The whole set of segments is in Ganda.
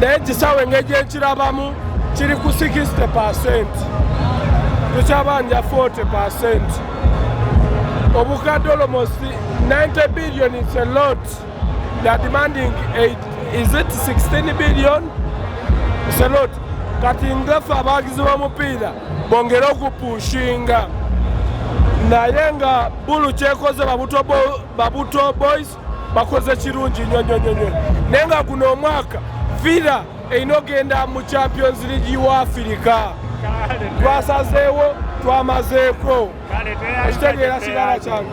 naye kisawe engeri gyekirabamu kiri ku 60 percent tukyabanja 40 percent obukadde almost 90 billion is a lot they are demanding 8 is it 16 billion is a lot kati ngafe abawagizi b'omupiira bongere okupushinga naye nga bulu kyekoze babuto boys bakoze kirungi nyo nyo nyo nyo naye nga guno omwaka villa erina ogenda mu champions league wa afirika twasazeewo twamazeeko ekitegeera kirala kyange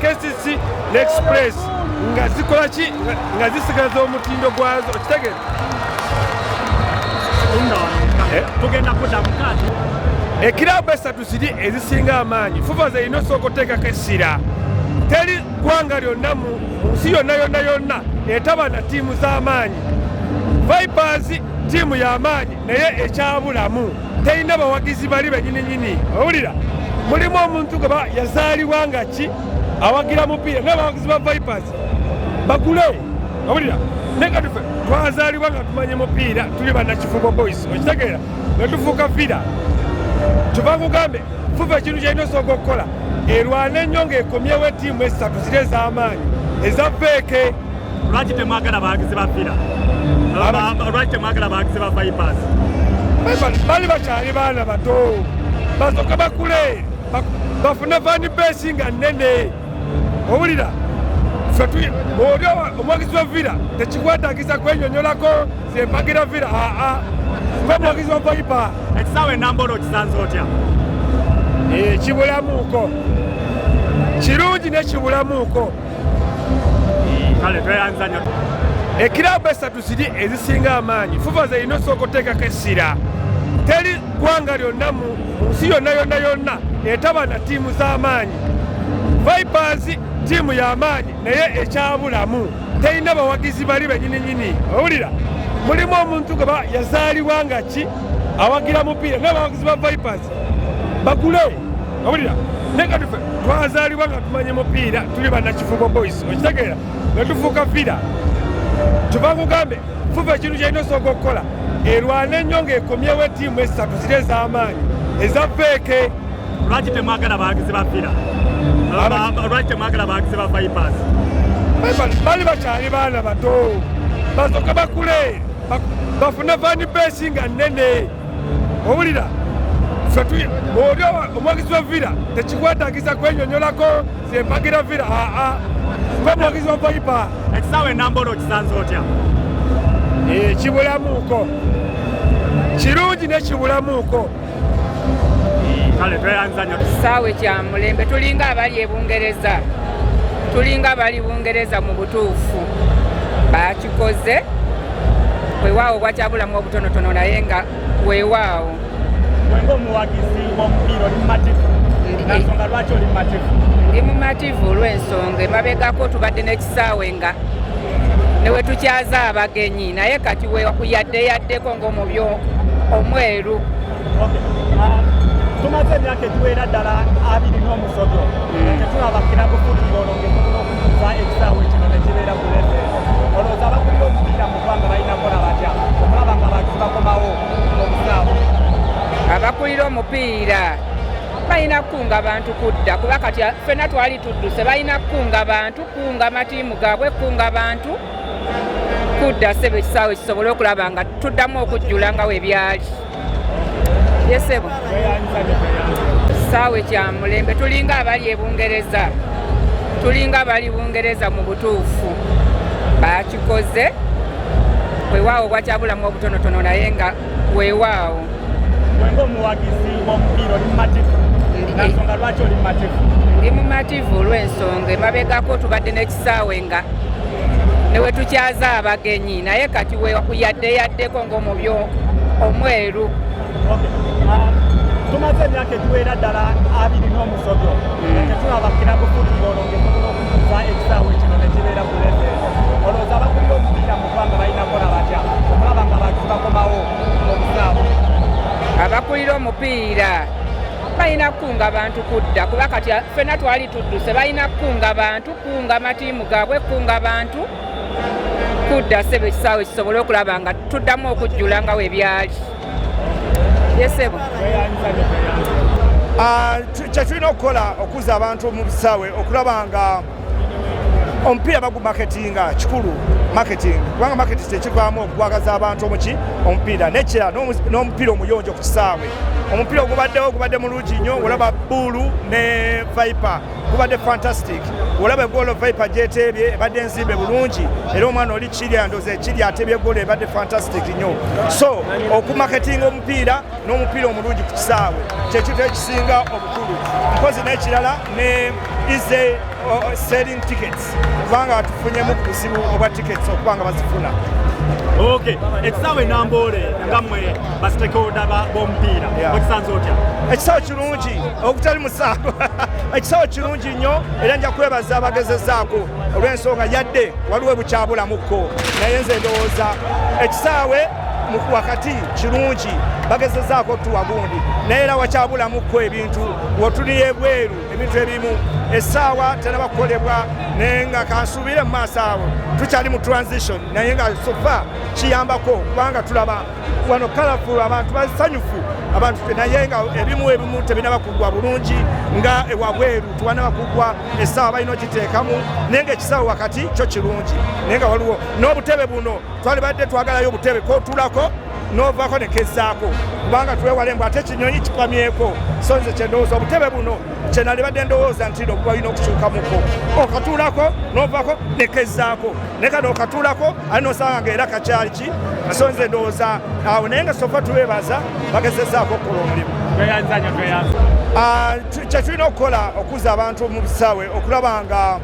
KCC ne Express nga zikola ki nga zisigaza omutindo gwazo okitegere eh? tugenda kudamu kati ekirabu esatu ziri ezisinga amaanyi fuva zerina osooka oteekako essira teri ggwanga lyonna mu nsi yonna yonna yonna etaba na ttiimu z'amaanyi vipers ttiimu y'amaanyi naye ekyabulamu terina bawagizi bali benyini nyini owulira mulimu omuntu gwe yazaalibwa nga ki awagira mupiira naye bawagizi ba vipers bagule owulira naye katufe twazaalibwa nga tumanye mupiira tuli banakifubo boys okitegeera nga tufuuka vira kyova kugambe fuva ekintu kyalina osooka okukola erwana ennyo ng'ekomyewo etiimu esatu ziri ez'amaanyi eza veeke lwaki temwagala bawagizi ba villa lwaki temwagala bawagizi ba vipers bali bakyali baana bato basoka bakule bafune vani besi nga nene owulira oli omwagizi wa villa tekikwetaagisa kwenyonyolako zempagira villa aa nga omwagizi wa vipa ekisaawe enambolo okisanze otya eh, kibulamuuko kirungi nekibulamuuko kale tweyanzanya ekiraabu esatu ziri ezisinga amaanyi fuva zerina osooka oteekako essira teri ggwanga lyonna mu nsi yonna yonna yonna etaba na ttiimu z'amaanyi vipers ttiimu y'amaanyi naye ekyabulamu terina bawagizi bali benyininyini owulira mulimu omuntu gwe yazaalibwa nga ki awagira mupiira naye abawagizi ba vipers bagule owulira naye nga tufe twazaalibwa nga tumanyi mupiira tuli banakifubo boys okitegeera nga tufuuka vira kyova kugambe fuva ekintu kyalina osooka okukola erwana ennyo ng'ekomyewo etiimu esatu ziri ez'amaanyi eza feeke lwaki temwagala bawagizi ba vira lwaki temwagala bawagizi ba vipers bali bakyali baana bato basooka bakule bafune vanipesi nga nnene owulira oli omwagizi wa villa tekikwetaagisa kwenyonyolako zempagira villa aa gwe omwagizi wa vaipa ekisaawa enambolo okisanze otya eh, kibulamuuko kirungi nekibulamuuko kale tweyanza nyo kisaawe kya mulembe tulinga abali ebungereza tulinga abali bungereza mu butuufu tukoze wewaawo bwakyabulamu obutonotono naye nga wewaawo wenga omuwagizi womupiira oli mumativu nansonga lwaki oli mumativu ndi mumativu olwensonga emabegako tubadde n'ekisaawe nga newetukyaza abagenyi naye kati yadde yaddeko ngaomubi omweru ah, tumaze emyaka egiwera ddala abiri n'omusobyo mm. tetulaba kirabufuti olonge abakulira omupiira balina kukunga bantu kudda kuba kati fena twali tudduse balina kukunga bantu kukunga matiimu gaabwe kukunga bantu kudda sebe ekisaawe kisobole okulaba nga tuddamu okujjula nga webyali yesebo saawe kya mulembe tulinga abali ebungereza tulinga abali bungereza mu butuufu bakikoze wewaawo bwakyabulamu obutonotono naye nga wewaawo ndi mumativu olw'ensonga emabegako tubadde saawe nga newetukyaza abagenyi naye kati yadde yaddeko ngaomubi omweru tumaze emyaka egiwera ddala abiri n'omusobyo hmm. tetulaba kirabu futbolo ngetukunokuza ekisaawe kino nekibeera kulese olowooza abakulira omupiira mu ggwanga balina kola batya okulaba nga abantu bakomawo mu busaawe abakulira omupiira balina kukunga bantu kudda kuba kati fena twali tudduse balina kukunga bantu kukunga matiimu gaabwe kukunga bantu kudda sebo ekisaawe kisobole okulaba nga tuddamu okujjula nga webyali yesebo ah, kyetulina okukola okuza abantu mu bisaawe okulaba nga omupiira bagu marketinga kikulu marketing kubanga marketing kyekivaamu okukwagaza abantu omuki omupiira nekira n'omupiira omuyonjo ku kisaawe omupiira ogubaddewo ogubadde mulungi nnyo olaba buulu ne viper gubadde fantastic olaba egoolo viper gyeteebye ebadde nzimbe bulungi era omwana oli kirya ndoza ekirya ateebye egoolo ebadde fantastic nnyo so okumaketinga omupiira n'omupiira omulungi ku kisaawe kyekintu ekisinga obukulu mpozi n'ekirala ne ize selling tickets kubanga tufunyemu ku buzibu obwa tickets okuba nga bazifuna ok ekisaawe namboole nga mwe basitekeoda bomupiira okisanze otya ekisaawe kirungi okutali musango ekisaawe kirungi nnyo era nja kwebaza abagezezaako olw'ensonga yadde waliwo ebukyabulamuko naye nze ndowooza ekisaawe wakati kirungi bagezezaako otuwa gundi naye era wakyabulamuko ebintu wotuli ebweru ebintu ebimu esaawa tenaba kukolebwa naye nga kansuubire mu maaso awo tukyali mu transition naye nga sofa kiyambako kubanga tulaba wano kalafulu abantu basanyufu abantu naye nga ebimu ebimu tebinaba kugwa bulungi nga ewabweru tubanaba kugwa esaawa balina okiteekamu naye nga ekisawo wakati kyo kirungi naye nga waliwo n'obutebe buno twalibadde twagalayo obutebe kotulako novaako nekezaako kubanga twewale mbu ate ekinyonyi kipamyeko so nze kyendowooza obutebe buno kyenalibadde ndowooza nti no bwalina okukyukamuko okatuulako novaako nekezaako naye kano okatuulako ali nosanga nga era kakyali ki so nze ndowooza awo naye nga sofa tubebaza bagezezaako okukola omulimu ah, kyetulina okukola okuza abantu mu bisaawe okulaba nga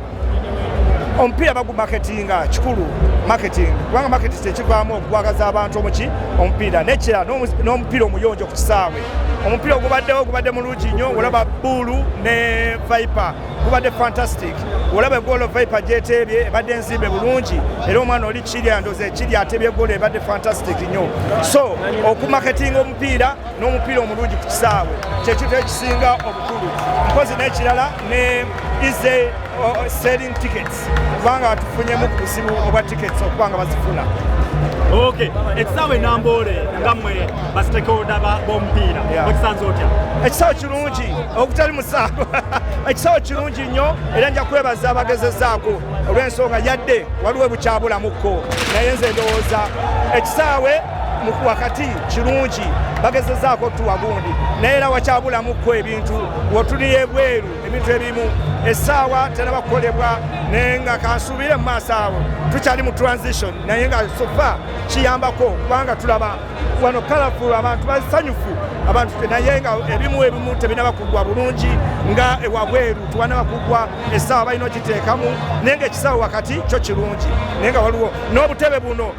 omupiira bagumaketinga kikulu marketing kubanga marketing kyekivaamu okukwagaza abantu omuki omupiira nekira n'omupiira omuyonjo ku kisaawe omupiira ogubaddewo ogubadde mulungi nnyo olaba buulu ne viper gubadde fantastic olaba egoolo viper gyeteebye ebadde enzimbe bulungi era omwana oli kirya ndoza ekirya ateebye egoolo ebadde fantastic nnyo so okumaketinga omupiira n'omupiira omulungi ku kisaawe kyekintu ekisinga obukulu mpozi n'ekirala ne ize selling tickets kubanga batufunyemu ku buzibu obwa tickets okuba nga bazifuna ok ekisaawe namboole nga mwe basitekeoda bomupiira okisanze otya ekisaawe kirungi okutali musango ekisaawe kirungi nnyo era nja kwebaza abagezezaako olw'ensonga yadde waliwo ebukyabulamuko naye nze ndowooza ekisaawe wakati kirungi bagezezaako otuwa gundi naye era wakyabulamuko ebintu wotuli ebweru ebintu ebimu essaawa teraba kukolebwa naye nga kansuubire mu maaso awo tukyali mu transition naye nga sofa kiyambako kubanga tulaba wano kalafulu abantu basanyufu abantu naye nga ebimu ebimu tebinaba kugwa bulungi nga ewabweru tiwanaba kugwa essaawa balina okiteekamu naye nga ekisaawa wakati kyo kirungi naye nga waliwo n'obutebe buno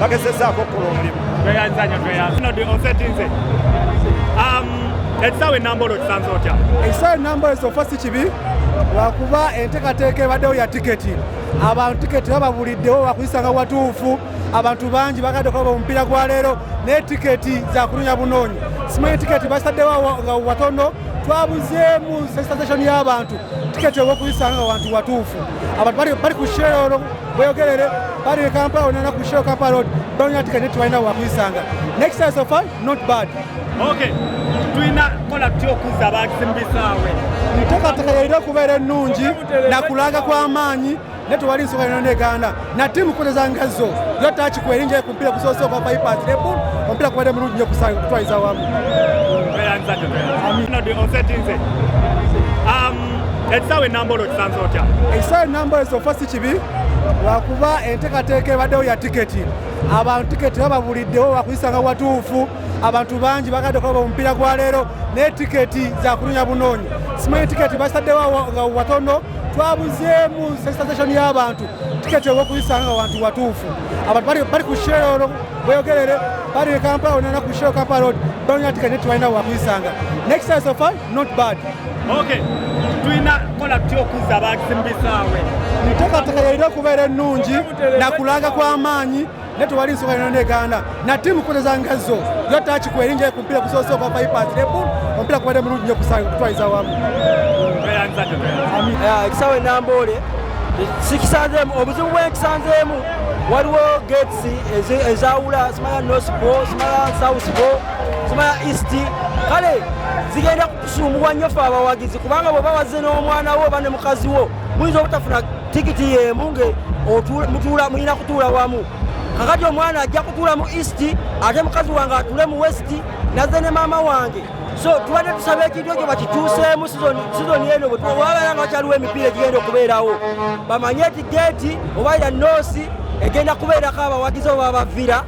bagezezaako okukola omulimu tweyanza nyo tweyanza kino di osetinze um, ekisaawa enamba olwo kisanze otya ekisaawa enamba esofa si kibi lwakuba enteekateeka ebaddewo ya tiketi abantu tiketi bababuliddewo bakuyisanga watuufu abantu bangi bagadde okuba omupiira gwa leero naye tiketi zakunonya bunoonyi simanyi tiketi basaddewo nga watono twabuzeemu sensation y'abantu tiketi ewokuyisanga wantu watuufu abantu bali ku sheero Boyogerere bali ne Kampala onana ku show Kampala road balina tika ne twalina wakuyisanga next time so far not bad okay tulina kola tutya okuzza abaakisimu bisaawe enteekateeka yalina okubeera ennungi nakulanga kw'amaanyi naye tewali nsonga yona neganda na tiimu kukozeza ngazo yo takiku erinjayo ku mupiira gusoose ogwa bypass lebu omupiira kubadde mulungi nyo kutwaliza wamu ekisaawe nambolo kisanze otya ekisaawe nambolo kyofa si kibi lwakuba entekateeka ebaddewo ya tiketi abantu tiketi bababuliddewo wakuyisanga watuufu abantu bangi bagadde okulaba omupiira gwa leero naye tiketi zakunonya bunoonya simanyi tiketi basaddewo nga watono twabuzeemu sensitization y'abantu tiketi ewokuyisanga nga wantu watuufu abantu bali ku sheero bweyogerere bali e kampala onana ku sheero kampala road banonya tiketi netibalina wakuyisanga next time so far Not bad. Okay. Tulina kola tutya okuzza abaakisi mu bisaawe? Enteekateeka yalina okubeera ennungi na kulanga kw'amaanyi naye tewali nsonga yona neganda na tiimu kukozeza ngazo yo taaki kweringa ku mpira kusoose okwa bypass rebul omupiira kubadde mulungi nyo kutwaliza wamu ekisaawe namboole sikisanzeemu obuzibu bwenkisanzeemu waliwo gates ezawula simala nosbo simala southbo Sumaya East kale zigenda kutusumbuwa nnyo fe abawagizi kubanga bwe bawaze n'omwana wo oba ne mukazi wo muyinza obutafuna tikiti y'emu nge mulina kutuula wamu kakati omwana ajja kutuula mu east ate mukazi wange atule mu west naze ne maama wange so tubadde tusaba ekintu ekyo bakikyuseemu sizoni eno bwetuwabeera nga wakyaliwo emipiira egigenda okubeerawo bamanye ti geeti oba ira noosi egenda kubeerako abawagizi oba abavira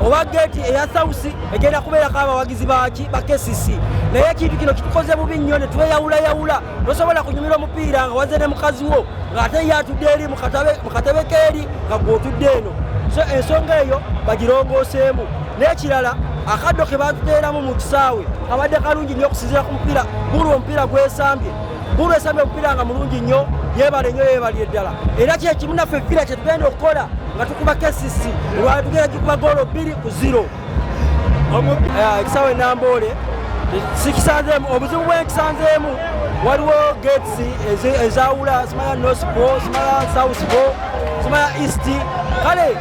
oba geeti eya sausi egenda kubeerako abawagizi baki ba kcc naye ekintu kino kitukoze bubi nnyo ne tweyawulayawula tosobola kunyumira omupiira nga waze ne mukazi wo ng'ate ye atudde eri mu katebe keeri nga gwe otudde eno so ensonga eyo bagirongooseemu n'ekirala akaddo ke batuteeramu mu kisaawe kabadde kalungi nnyo okusinziira ku mupiira gulwo omupiira gwesambye Bulu esabye omupiira nga mulungi nnyo yeebale nnyo yeebalire ddala era kyekimu naffe ekipiira kye tugenda okukola nga tukuba KCC olwala tugenda kikuba goolo bbiri ku ziro eh, ekisawo enamboole sikisanzeemu obuzibu bwenkisanzeemu waliwo gates ezawula simala nospo simala southpo simala east kale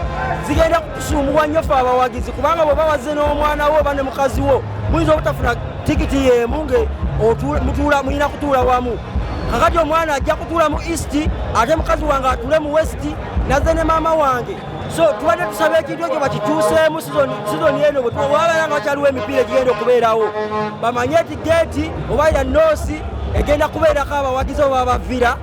zigenda Tusumbuwa nnyo ffe abawagizi kubanga bwe bawaze n'omwana wo oba ne mukazi wo muyinza obutafuna tikiti y'emu nga mutuula mulina kutuula wamu kakati omwana ajja kutuula mu east ate mukazi wange atuule mu west naze ne maama wange so tubadde tusaba ekintu ekyo bakikyuseemu sizoni eno bwetuwabaera nga wakyaliwo emipiira egigenda okubeerawo bamanye ti geeti oba ya noosi egenda kubeerako abawagizi oba bavira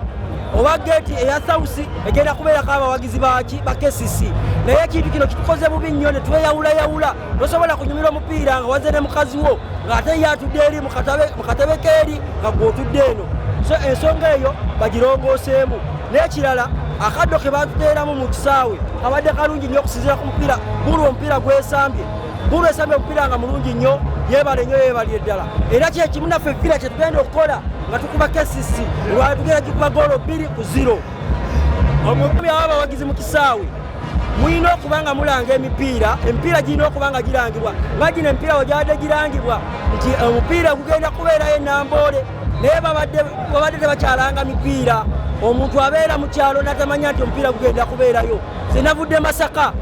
oba geeti eya sausi egenda kubeerako abawagizi baki ba kcc naye ekintu kino kitukoze bubi nnyo ne tweyawulayawula nosobola kunyumira omupiira nga waze ne mukazi wo ng'ate ye atudde eri mu katebe keeri nga gwotudde eno so ensonga eyo bagirongooseemu n'ekirala akaddo ke batuteeramu mu kisaawe kabadde kalungi nnyo okusinziira ku mupiira gulwo omupiira gwesambye Bulu esabye okupira nga mulungi nnyo yebale nnyo yebalire ddala era kyekimu naffe vira kyetugenda okukola nga tukuba kcc olwala tugenda gikuba goolo bbiri ku ziro omukubi aba abawagizi mu kisaawe mulina okuba nga mulanga emipiira emipiira girina okuba nga girangibwa nga gino emipiira wegyabadde girangibwa nti eh, omupiira gugenda kubeerayo enamboole naye babadde tebakyalanga mipiira omuntu abeera mu kyalo natamanya nti omupiira gugenda kubeerayo sinavudde masaka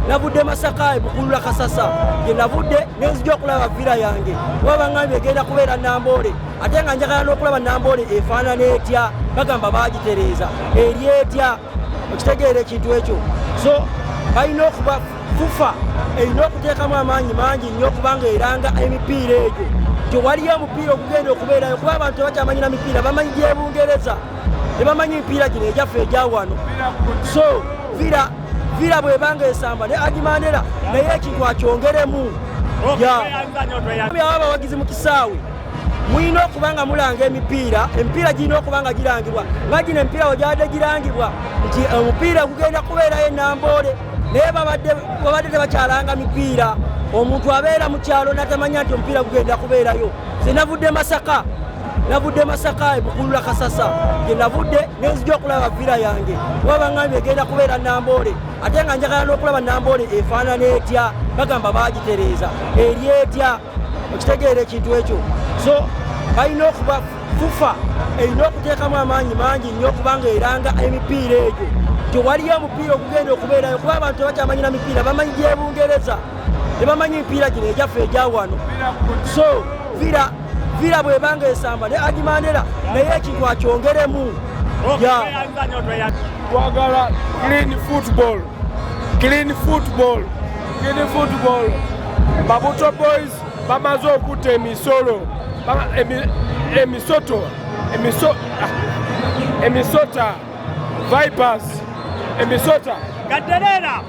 navudde masaka ebukulula kasasa gye navudde nenzija okulaba vira yange kuba baŋambye egenda kubeera namboole ate nga njagala n'okulaba namboole efaanana etya bagamba bagitereeza eri etya okitegeera ekintu ekyo so balina okuba fufa erina okuteekamu amaanyi mangi nnyo okubanga eranga emipiira egyo nti waliyo omupiira okugenda okubeerayo kuba abantu tebakyamanyira mipiira bamanyi gyebungereza tebamanyi mipiira gino egyaffe egyawano so vira vira bwebanga esamba ne agimandera naye ekintu akyongeremu aba abawagizi mu kisaawe mulina okuba nga mulanga emipiira emipiira girina okuba nga girangibwa nga gino emipiira wegyabadde girangibwa nti eh, omupiira gugenda kubeerayo enamboole naye babadde tebakyalanga mipiira omuntu abeera mu kyalo natamanya nti omupiira gugenda kubeerayo senavudde masaka navudde masaka ebukulula kasasa gye navudde nenzija okulaba vira yange kuba baŋambye egenda kubeera namboole ate nga njagala n'okulaba namboole efaanana etya bagamba bagitereeza eri etya okitegeera ekintu ekyo so balina okuba fufa erina okuteekamu amaanyi mangi nnyo okubanga eranga emipiira egyo tewaliyo omupiira okugenda okubeerayo kuba abantu tebakyamanyira mipiira bamanyi gyebungereza tebamanyi mipiira gino egyaffe egyawano so vira vira bwebanga esamba ne aji mandera naye ekintu akyongeremu twagala clean football clean football clean football babuto boys bamaze okutta emisolo emisoto ah, emisota vipers emisota gaderera